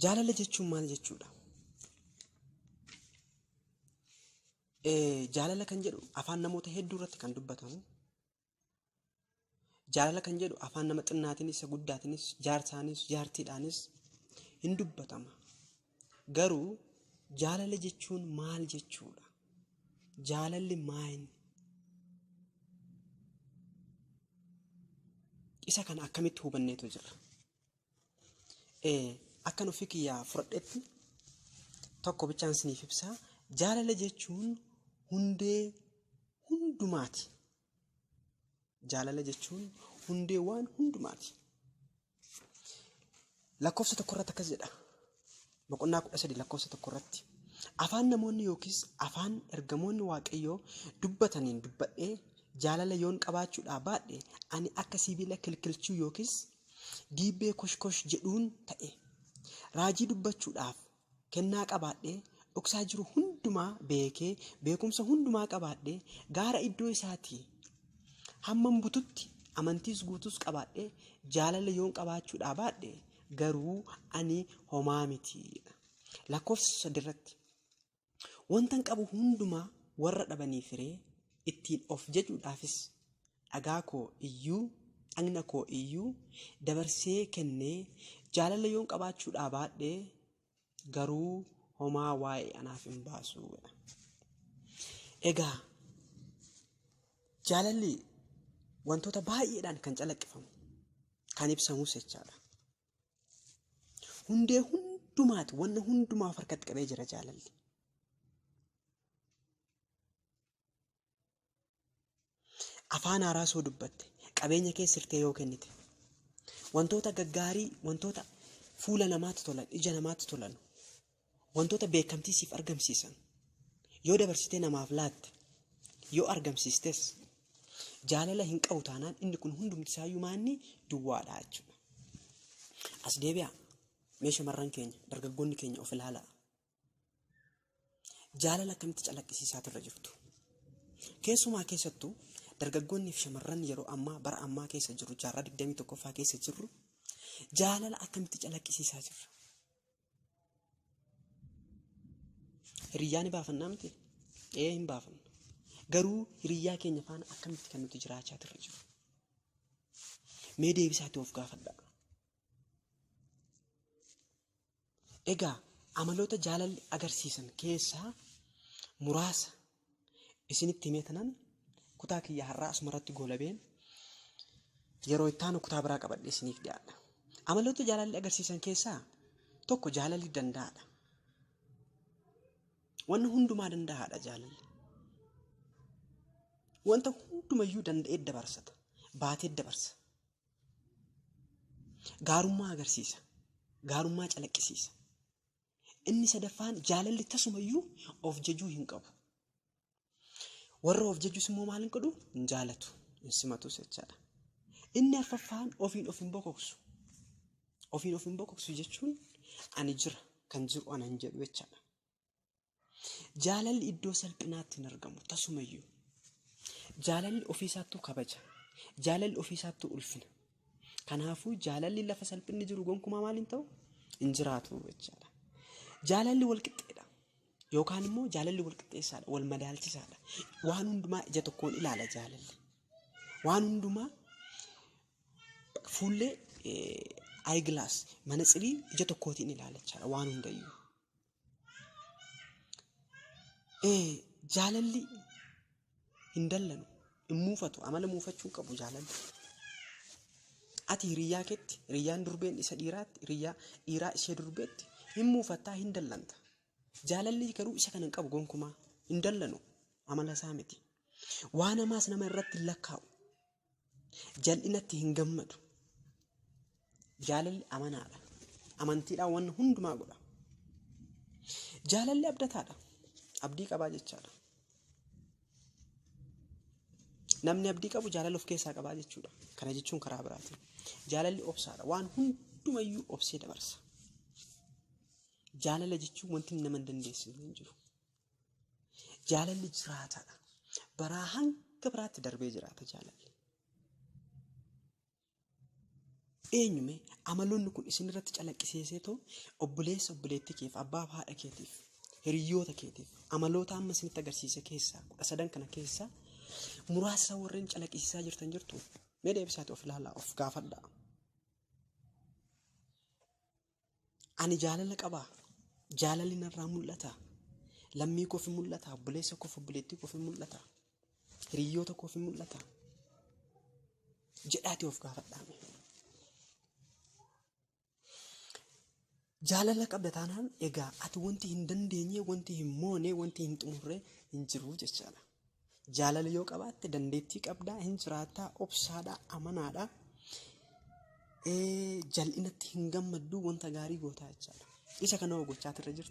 Jaalala jechuun maal jechuudha? Jaalala kan jedhu afaan namoota hedduu irratti kan dubbatamu. Jaalala kan jedhu afaan nama xinnaatiinis, isa guddaatiinis, jaarsaanis, jaartiidhaanis hin dubbatama. Garuu jaalala jechuun maal jechuudha? Jaalalli maayini? Isa kana akkamitti hubanneetu jirra? Akkan ofii kiyyaa fudhadhetti tokko bichaan siniif ibsaa. Jaalala jechuun hundee hundumaati. Jaalala jechuun hundee waan hundumaati. Lakkoofsa tokko irratti akkas jedha. Boqonnaa kudha sadii lakkoofsa tokko irratti. Afaan namoonni yookiis afaan ergamoonni waaqayyoo dubbataniin dubbadhee jaalala yoon qabaachuudhaa baadhe ani akka sibiila kilkilchuu yookiis diibbee koshkosh jedhuun ta'e. Raajii dubbachuudhaaf Kennaa qabaadhee, dhoksaa jiru hundumaa beekee, beekumsa hundumaa qabaadhee, gaara iddoo isaatii hamman bututti amantiis guutuus qabaadhee jaalala yoon qabaachuu dhaabaadhe garuu ani homaa miti. Lakkoofsa sadirratti wantan qabu hundumaa warra dhabaniif hiree ittiin of jajuudhaafis dhagaa koo iyyuu, dhagna koo iyyuu dabarsee kennee jaalala yoon qabaachuu dhaabaadhe garuu homaa waa'ee anaaf hin baasu. Egaa jaalalli wantoota baay'eedhaan kan calaqqifamu kan ibsamus jechaadha. Hundee hundumaati wanna hundumaaf harkatti qabee jira jaalalli. Afaan haaraa soo dubbatte, qabeenya kee sirtee yoo kennite, wantoota gaggaarii, wantoota fuula namaatti tolan, ija namaatti tolan, wantoota beekamtii siif argamsiisan yoo dabarsitee namaaf laatte, yoo argamsiistes jaalala hin qabu taanaan inni kun hundumti isaayyuu maanni duwwaadha jechuudha. As deebi'aa mee shamarran keenya dargaggoonni keenya of ilaalaa. Jaalala akkamitti calaqqisiisaa turre jirtu? Keessumaa keessattuu dargaggoonni fi shamarran yeroo ammaa bara ammaa keessa jirru jaarraa 21ffaa keessa jirru jaalala akkamitti calaqqisiisaa jirra? Hiriyyaa ni baafannaa miti? Ee hin baafannu. Garuu hiriyyaa keenya faana akkamitti kan nuti jiraachaa turre jiru? Mee deebisaatti of gaafadhaa. Egaa amaloota jaalalli agarsiisan keessaa muraasa isinitti himee tanan kutaa kiyya har'aa asuma irratti goolabeen yeroo itti aanu kutaa biraa qabadhee isiniif dhiyaadha. Amaloota jaalalli agarsiisan keessaa tokko jaalalli danda'aadha. Wanna hundumaa danda'aadha jaalalli. Wanta hundumayyuu danda'ee dabarsata. Baatee dabarsa. Gaarummaa agarsiisa. Gaarummaa calaqqisiisa. Inni sadaffaan jaalalli tasumayyuu of jajuu hin qabu. Warra of jajus immoo maal hin godhu? Hin jaalatu. Hin simatus jechaadha. Inni arfaffaan ofiin of hin bokoksu. Ofiin of hin bokoksu jechuun ani jira kan jiru ana hin jedhu jechaadha. Jaalalli iddoo salphinaatti hin argamu tasumayyuu. Jaalalli ofiisaattuu kabaja. Jaalalli ofiisaattuu ulfina. Kanaafuu jaalalli lafa salphinni jiru gonkumaa maal hin ta'u? Hin jiraatu jechaadha. Jaalalli walqixxeedha. Yookaan immoo jaalalli walqixxeessaadha, wal madaalchisaadha. Waan hundumaa ija tokkoon ilaala jaalalli. Waan hundumaa fuullee ayigilaas manatsirii ija tokkootiin ilaala jechaadha waan hundayyuu. Ee jaalalli hin dallanu, hin muufatu, amala muufachuu hin qabu jaalalli. Ati hiriyyaa keetti, hiriyyaan durbeen isa dhiiraatti, hiriyyaa dhiiraa ishee durbeetti hin muufattaa, hin dallanta. Jaalalli garuu isa kana hin qabu gonkumaa, hin dallanu, amala isaa miti. Waan hamaas nama irratti hin lakkaa'u. Jal'inatti hin gammadu. Jaalalli amanaadha. Amantiidhaan wanna hundumaa godha. Jaalalli abdataadha. Abdii qabaa jechaadha. Namni abdii qabu jaalala of keessaa qabaa jechuudha. Kana jechuun karaa biraatiin. Jaalalli obsaadha. Waan hundumayyuu obsee dabarsa. Jaalala jechuun wanti nama hin dandeessisne hin jiru. Jaalalli jiraataadha. Baraa hanga biraatti darbee jiraata jaalalli. Eenyume amaloonni kun isin irratti calaqqiseesee too obboleessa obboleettii keef abbaa fi haadha keetiif hiriyoota keetiif amaloota amma isinitti agarsiise keessaa kudha sadan kana keessaa muraasa warreen calaqqisiisaa jirtan jirtu mee deebisaati of ilaalaa of gaafadhaa. Ani jaalala qabaa? Jaalalli narraa mul'ataa? Lammii koof hin mul'ataa? Obboleessa koof obboleettii koof hin mul'ataa? Hiriyyoota koof hin mul'ataa? Jedhaatii of gaafadhaame. Jaalala qabda taanaan egaa ati wanti hin dandeenye, wanti hin moone, wanti hin xumurre hin jiru jechaadha. Jaalala yoo qabaatte dandeettii qabdaa, hin jiraattaa, obsaadhaa, amanaadhaa, ee, jal'inatti hin gammadduu, wanta gaarii gootaa jechaadha. Isa kana hoo gochaa irra jirta?